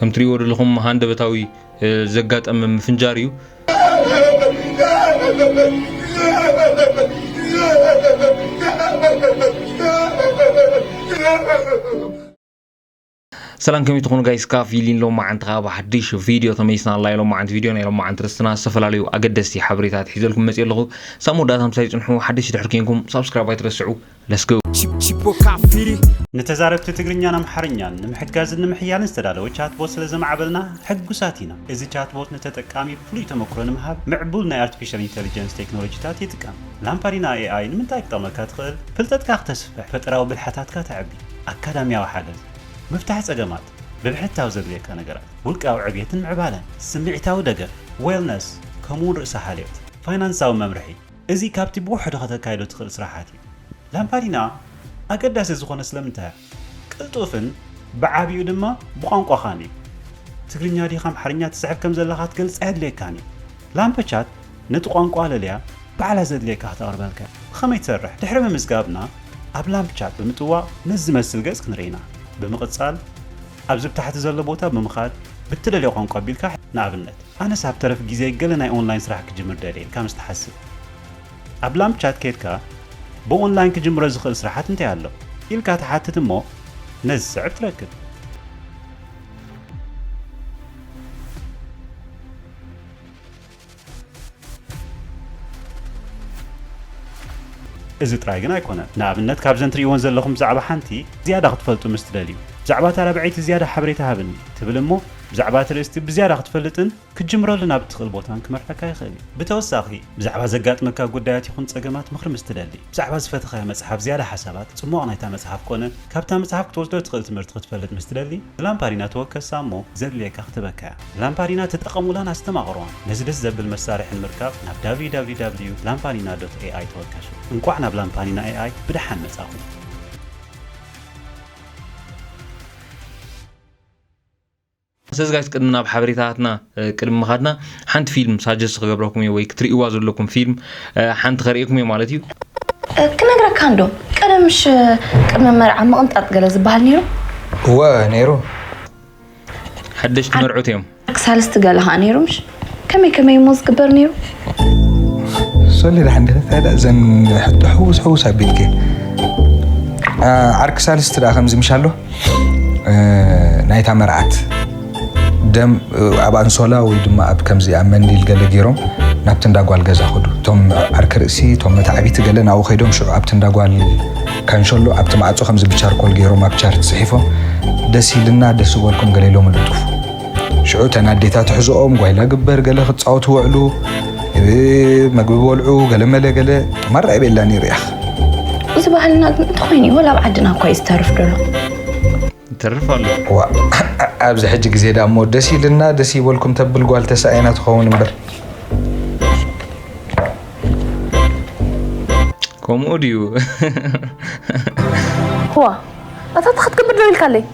ከም ትሪእዎ ዘለኹም ሃንደበታዊ ዘጋጠመ ምፍንጃር እዩ ሰላም ከመይ ትኾኑ ጋይስ ካብ ፊሊን ሎም መዓንቲ ካብ ሓድሽ ቪድዮ ተመይስና ኣላ ኢሎም መዓንቲ ቪድዮ ናይ ሎም መዓንቲ ርስትና ዝተፈላለዩ ኣገደስቲ ሓበሬታት ሒዘልኩም መፅእ ኣለኹ ሳብ መወዳእታ ምሳይ ፅንሑ ሓደሽ ድሕር ኮንኩም ሳብስክራይብ ኣይትረስዑ Let's go! ንተዛረብቲ ትግርኛን ኣምሓርኛን ንምሕጋዝን ንምሕያልን ዝተዳለወ ቻትቦት ስለ ዘማዕበልና ሕጉሳት ኢና። እዚ ቻትቦት ንተጠቃሚ ፍሉይ ተመክሮ ንምሃብ ምዕቡል ናይ ኣርቲፊሻል ኢንተሊጀንስ ቴክኖሎጂታት ይጥቀም። ላምፓዲና ኤኣይ ንምንታይ ክጠቕመካ ትኽእል? ፍልጠትካ ክተስፍሕ፣ ፈጠራዊ ብልሓታትካ ተዕቢ፣ ኣካዳሚያዊ ሓገዝ፣ ምፍታሕ ጸገማት፣ ብብሕታዊ ዘድልየካ ነገራት፣ ውልቃዊ ዕብየትን ምዕባለን፣ ስምዒታዊ ደገፍ፣ ዌልነስ፣ ከምኡ'ውን ርእሰ-ሓልዮት፣ ፋይናንሳዊ መምርሒ፣ እዚ ካብቲ ብውሕዱ ከተካይዶ ትኽእል ስራሓት እዩ። ላምፓዲና ኣገዳሲ ዝኾነ ስለምንታይ እዩ? ቅልጡፍን ብዓቢኡ ድማ ብቋንቋኻን እዩ። ትግርኛ ድካ ኣምሓርኛ ትጽሕፍ ከም ዘለኻ ክትገልጽ ኣየድልየካን እዩ። ላምፐቻት ነቲ ቋንቋ ለልያ ባዕላ ዘድልየካ ክተቕርበልካ እያ። ብኸመይ ትሰርሕ? ድሕሪ ምምዝጋብና ኣብ ላምፕቻት ብምጥዋቕ ነዚ ዝመስል ገጽ ክንርኢ ኢና። ብምቕጻል ኣብዚ ብታሕቲ ዘሎ ቦታ ብምኻድ ብትደልዮ ቋንቋ ኣቢልካ ንኣብነት። ኣነስ ኣብ ተረፍ ግዜ ገለ ናይ ኦንላይን ስራሕ ክጅምር ደልየ ኢልካ ምስ ትሓስብ ኣብ ላምፕ ቻት ኬድካ ብ ኦንላይን ክጅምሮ ዝኽእል ስራሓት እንታይ ኣሎ ኢልካ ትሓትት እሞ ነዚ ዝስዕብ ትረክብ። እዚ ጥራይ ግን ኣይኮነን ንኣብነት ካብዘን ትርእይወን ዘለኹም ብዛዕባ ሓንቲ ዝያዳ ክትፈልጡ ምስ ትደልዩ ብዛዕባ እታ ራብዐይቲ ዝያዳ ሓበሬታ ሃብኒ ትብል እሞ ብዛዕባ እቲ ርእስቲ ብዝያዳ ክትፈልጥን ክትጅምረሉ ናብ እትኽእል ቦታን ክመርሐካ ይኽእል እዩ። ብተወሳኺ፣ ብዛዕባ ዘጋጥመካ ጉዳያት ይኹን ጸገማት ምኽሪ ምስ እትደሊ፣ ብዛዕባ ዝፈተኻያ መጽሓፍ ዝያዳ ሓሳባት፣ ጽሟቕ ናይታ መጽሓፍ ኮነ ካብታ መጽሓፍ ክትወስዶ እትኽእል ትምህርቲ ክትፈልጥ ምስ እትደሊ፣ ንላምፓዲና ተወከሳ እሞ ዘድልየካ ክትበካያ። ላምፓዲና ተጠቐሙላን ኣስተማቕሩዋን። ነዚ ደስ ዘብል መሳርሒ ንምርካብ ናብ www lampanina dot ai ተወከሱ። እንቋዕ ናብ ላምፓኒና ኤኣይ ብደሓን መጻኹም። ስለዚ ጋይስ ቅድሚ ናብ ሓበሬታትና ቅድሚ ምኻድና ሓንቲ ፊልም ሳጀስት ክገብረኩም እየ ወይ ክትርእይዋ ዘለኩም ፊልም ሓንቲ ከርእየኩም እየ ማለት እዩ ክነግረካ እንዶ ቀደም ምሽ ቅድሚ መርዓ ምቕንጣጥ ገለ ዝበሃል ነይሩ እወ ነይሩ ሓደሽቲ መርዑት እዮም ሳልስቲ ገለ ከዓ ነይሩ ምሽ ከመይ ከመይ እሞ ዝግበር ነይሩ? ሶሊ ደሓን ዲኺ? እንታይ ደኣ እዘን ሕቶ ሕውስ ሕውስ ኣቢልኪ። ዓርኪ ሳልስቲ ደኣ ከምዚ ምሽ ኣሎ ናይታ መርዓት ደም ኣብ ኣንሶላ ወይ ድማ ኣብ ከምዚ ኣብ መንዲል ገለ ገይሮም ናብቲ እንዳ ጓል ገዛ ኸዱ እቶም ዓርኪ ርእሲ እቶም መታዕቢቲ ገለ ናብኡ ከይዶም ሽዑ ኣብቲ እንዳ ጓል ካንሸሎ ኣብቲ ማዕፆ ከምዚ ብቻርኮል ገይሮም ኣብ ቻርት ፅሒፎም ደስ ኢልና ደስ ዝበልኩም ገለ ኢሎም ልጥፉ ሽዑ እተን ኣዴታት ሕዝኦም ጓይላ ግበር ገለ ክፃወቱ ወዕሉ መግቢ በልዑ ገለ መለ ገለ ማራ ይቤላ ነይሩ ያኽ እዚ ባህልና ግን እንተኾይኑ እዩ ወላ ኣብ ዓድና እኳ እዩ ዝተርፍ ደሎ ይተርፍ ኣሎ ዋ ኣብዚ ሕጂ ግዜ ዳ እሞ ደስ ኢልና ደስ ይበልኩም ተብል ጓል ተሳኢና ትኸውን እምበር ከምኡ ድዩ ዋ ኣታ እንታይ ክትገብር ደው ኢልካለይ?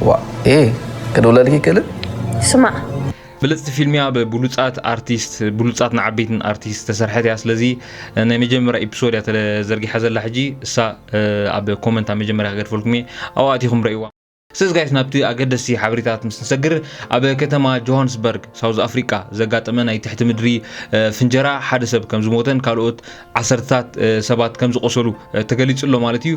ዋእ ኤህ ክድውለልኪ ይክእልን? ስማዕ ብልፅቲ ፊልም እያ ብብሉፃት ኣርቲስት ብሉፃትን ዓበይትን ኣርቲስት ዝተሰርሐት እያ ስለዚ ናይ መጀመርያ ኢፕሶድ እያ ተዘርጊሓ ዘላ ሕጂ እሳ ኣብ ኮመንት ኣብ መጀመርያ ክገድፈልኩም እየ ኣብኡ ኣቲኹም ረእይዋ ስለዚ ጋይስ ናብቲ ኣገደስቲ ሓበሬታት ምስ ንሰግር ኣብ ከተማ ጆሃንስበርግ ሳውዝ ኣፍሪቃ ዘጋጠመ ናይ ትሕቲ ምድሪ ፍንጀራ ሓደ ሰብ ከም ዝሞተን ካልኦት ዓሰርተታት ሰባት ከም ዝቆሰሉ ተገሊጹ ኣሎ ማለት እዩ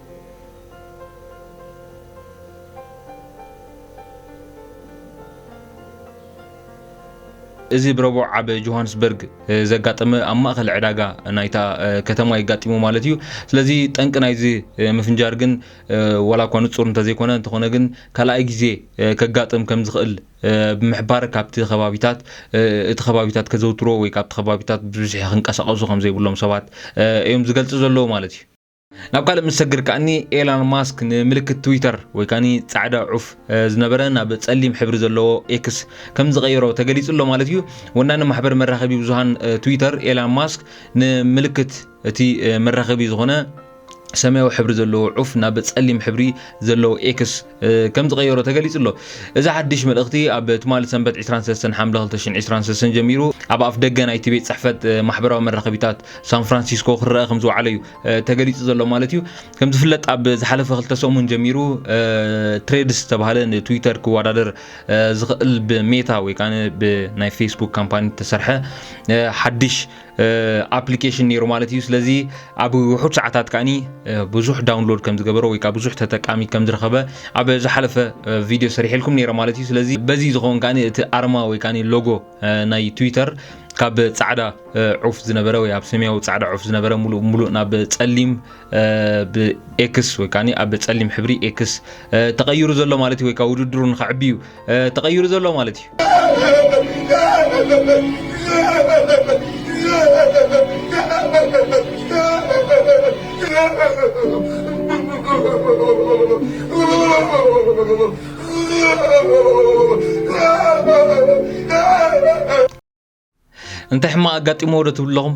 እዚ ብረቡዕ ኣብ ጆሃንስበርግ ዘጋጠመ ኣብ ማእኸል ዕዳጋ ናይታ ከተማ የጋጢሙ ማለት እዩ ስለዚ ጠንቂ ናይዚ ምፍንጃር ግን ዋላ እኳ ንፁር እንተዘይኮነ እንተኾነ ግን ካልኣይ ግዜ ከጋጥም ከም ዝኽእል ብምሕባር ካብቲ ከባቢታት እቲ ከባቢታት ከዘውትሮ ወይ ካብቲ ከባቢታት ብብዝሒ ክንቀሳቀሱ ከም ዘይብሎም ሰባት እዮም ዝገልፂ ዘለዎ ማለት እዩ ናብ ካልእ ምስ ሰግር ከኣኒ ኤላን ማስክ ንምልክት ትዊተር ወይ ከኒ ጻዕዳ ዑፍ ዝነበረ ናብ ጸሊም ሕብሪ ዘለዎ ኤክስ ከም ዝቐየሮ ተገሊጹ ኣሎ ማለት እዩ። ወናኒ ማሕበር መራኸቢ ብዙሃን ትዊተር ኤላን ማስክ ንምልክት እቲ መራኸቢ ዝኾነ ሰማያዊ ሕብሪ ዘለዎ ዑፍ ናብ ጸሊም ሕብሪ ዘለዎ ኤክስ ከም ዝቐየሮ ተገሊጹ ኣሎ እዚ ሓድሽ መልእኽቲ ኣብ ትማሊ ሰንበት 23 ሓምለ 2023 ጀሚሩ ኣብ ኣፍ ደገ ናይቲ ቤት ጽሕፈት ማሕበራዊ መራኸቢታት ሳን ፍራንሲስኮ ክረኣ ከም ዝወዓለ እዩ ተገሊጹ ዘሎ ማለት እዩ ከም ዝፍለጥ ኣብ ዝሓለፈ ክልተ ሰሙን ጀሚሩ ትሬድስ ዝተባሃለ ንትዊተር ክወዳደር ዝኽእል ብሜታ ወይ ከዓ ብናይ ፌስቡክ ካምፓኒ ተሰርሐ ሓድሽ ኣፕሊኬሽን ነይሩ ማለት እዩ ስለዚ ኣብ ውሑድ ሰዓታት ከዓኒ ብዙሕ ዳውንሎድ ከም ዝገበረ ወይ ከዓ ብዙሕ ተጠቃሚ ከም ዝረኸበ ኣብ ዝሓለፈ ቪድዮ ሰሪሕልኩም ነይረ ማለት እዩ ስለዚ በዚ ዝኸውን ከዓኒ እቲ ኣርማ ወይ ከዓ ሎጎ ናይ ትዊተር ካብ ፃዕዳ ዑፍ ዝነበረ ወይ ኣብ ሰማያዊ ፃዕዳ ዑፍ ዝነበረ ሙሉእ ሙሉእ ናብ ፀሊም ብኤክስ ወይ ከዓ ኣብ ፀሊም ሕብሪ ኤክስ ተቐይሩ ዘሎ ማለት እዩ ወይ ከዓ ውድድሩ ንኸዕቢ እዩ ተቐይሩ ዘሎ ማለት እዩ Oh, እንታይ ሕማቅ ኣጋጢሞ ዶ ትብሉ ኣለኹም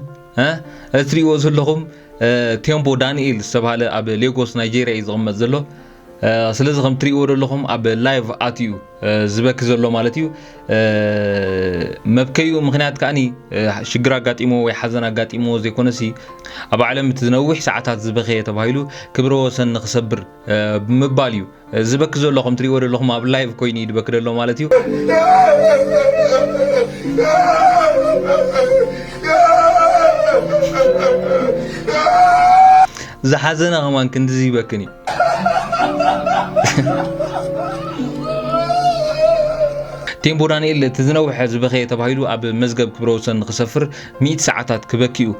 እትሪእዎ ዘለኹም ቴምቦ ዳንኤል ዝተባሃለ ኣብ ሌጎስ ናይጀርያ እዩ ዝቕመጥ ዘሎ ስለዚ ከም ትሪእዎ ዘለኹም ኣብ ላይቭ ኣትዩ ዝበኪ ዘሎ ማለት እዩ መብከዩ ምክንያት ከዓኒ ሽግር ኣጋጢሞ ወይ ሓዘን ኣጋጢሞ ዘይኮነሲ ኣብ ዓለም እቲ ዝነዊሕ ሰዓታት ዝበኸየ ተባሂሉ ክብረ ወሰን ንክሰብር ብምባል እዩ ዝበክ ዘሎ ከም ትሪእዎ ዘለኹም ኣብ ላይቭ ኮይኑ እዩ ዝበክ ዘሎ ማለት እዩ ዝሓዘነ ከማን ክንዲዚ ይበክን እዩ ቴምቦ ዳንኤል እቲ ዝነውሐ ዝበኸየ ተባሂሉ ኣብ መዝገብ ክብረ ወሰን ክሰፍር ሚእቲ ሰዓታት ክበኪ እዩ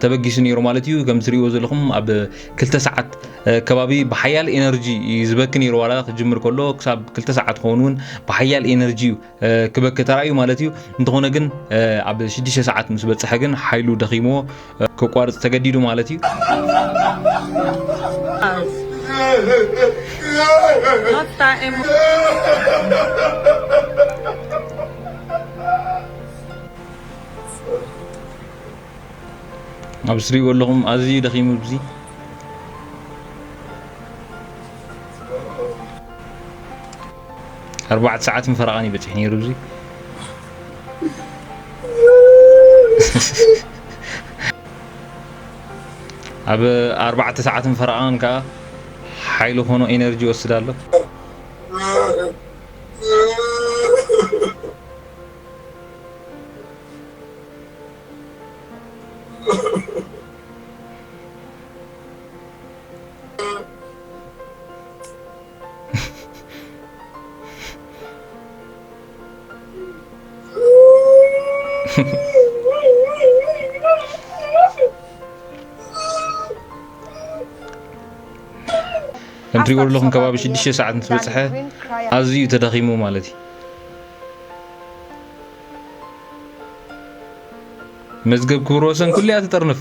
ተበጊሱ ነይሩ ማለት እዩ ከም ትሪእዎ ዘለኹም ኣብ ክልተ ሰዓት ከባቢ ብሓያል ኤነርጂ እዩ ዝበኪ ነይሩ ዋላ ክጅምር ከሎ ክሳብ ክልተ ሰዓት ክኸውን እውን ብሓያል ኤነርጂ እዩ ክበኪ ተራእዩ ማለት እዩ እንተኾነ ግን ኣብ ሽዱሽተ ሰዓት ምስ በፅሐ ግን ሓይሉ ደኺሞ ከቋርፅ ተገዲዱ ማለት እዩ ኣብዚ ትሪእዎ ኣለኹም ኣዝዩ ደኺሙ ብዚ ኣርባዕተ ሰዓትን ፈረቓን እዩ በፂሑ ነይሩ ብዚ ኣብ ኣርባዕተ ሰዓትን ፈረቓን ከዓ ሓይሊ ኾኖ ኤነርጂ ይወስድ ኣሎ ከምትሪእዎ ኣለኹም ከባቢ 6 ሰዓት ምስ በፅሐ ኣዝዩ ተዳኺሙ ማለት እዩ መዝገብ ክብረ ወሰን ኩሉ እያ ትጥርንፍ